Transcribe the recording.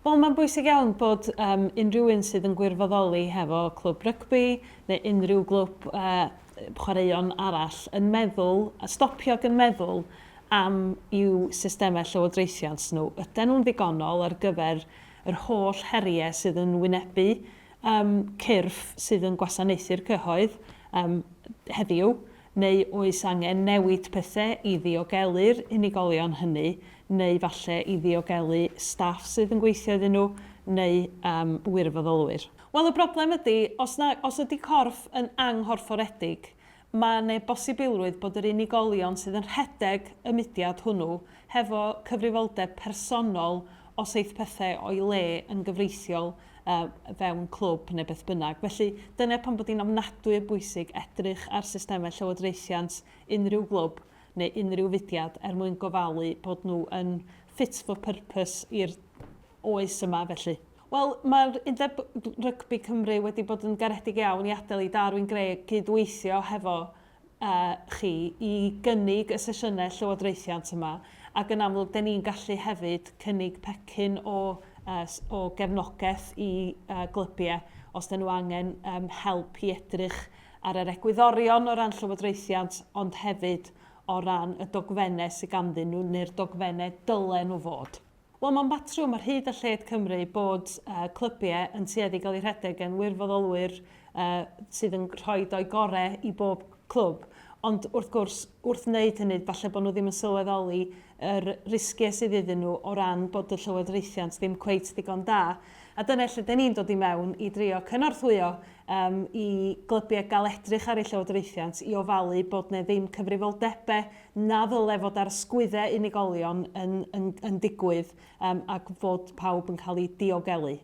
Wel, mae'n bwysig iawn bod um, unrhyw un sydd yn gwirfoddoli hefo clwb rygbi neu unrhyw glwb uh, chwaraeon arall yn meddwl, a stopio yn meddwl am i'w systemau llywodraethiant nhw. Ydy nhw'n ddigonol ar gyfer yr holl heriau sydd yn wynebu um, cyrff sydd yn gwasanaethu'r cyhoedd um, heddiw, Neu oes angen newid pethe i ddiogelu'r unigolion hynny, neu falle i ddiogelu staff sydd yn gweithio iddyn nhw, neu yym wirfoddolwyr? Wel y broblem ydy, os na, os ydy corff yn anghorfforedig, mae 'ne bosibilrwydd bod yr unigolion sydd yn rhedeg y mudiad hwnnw hefo cyfrifoldeb personol os eith pethe o'i le yn gyfreithiol o fewn clwb neu beth bynnag. Felly, dyna pam bod hi'n ofnadwy o bwysig edrych ar systemau llywodraethiant unrhyw glwb neu unrhyw fudiad er mwyn gofalu bod nhw yn fit for purpose i'r oes yma felly. Wel, mae'r Undeb Rygbi Cymru wedi bod yn garedig iawn i adael i Darwin Greg gyd-weithio hefo â chi i gynnig y sesiynau llywodraethiant yma, ac yn amlwg dan ni'n gallu hefyd cynnig pecyn o o gefnogaeth i glybiau os dan nhw angen help i edrych ar yr egwyddorion o ran llywodraethiant ond hefyd o ran y dogfennau sydd ganddyn nhw neu'r dogfennau dylen nhw fod. Wel, mae'n batrwm ar hyd a lled Cymru bod clybiau yn tueddu i gael eu rhedeg gan wirfoddolwyr sydd yn rhoi eu gorau i bob clwb, ond wrth gwrs, wrth wneud hynny, falle bod nhw ddim yn sylweddoli yr risgiau sydd iddyn nhw o ran bod y llywodraethiant ddim cweit ddigon da. A dyna lle dyn ni'n dod i mewn i drio cynorthwyo i glybiau gael edrych ar eu llywodraethiant i ofalu bod 'na ddim cyfrifoldebau na ddyle fod ar sgwydde unigolion yn yn yn digwydd yym ac fod pawb yn cael eu diogelu.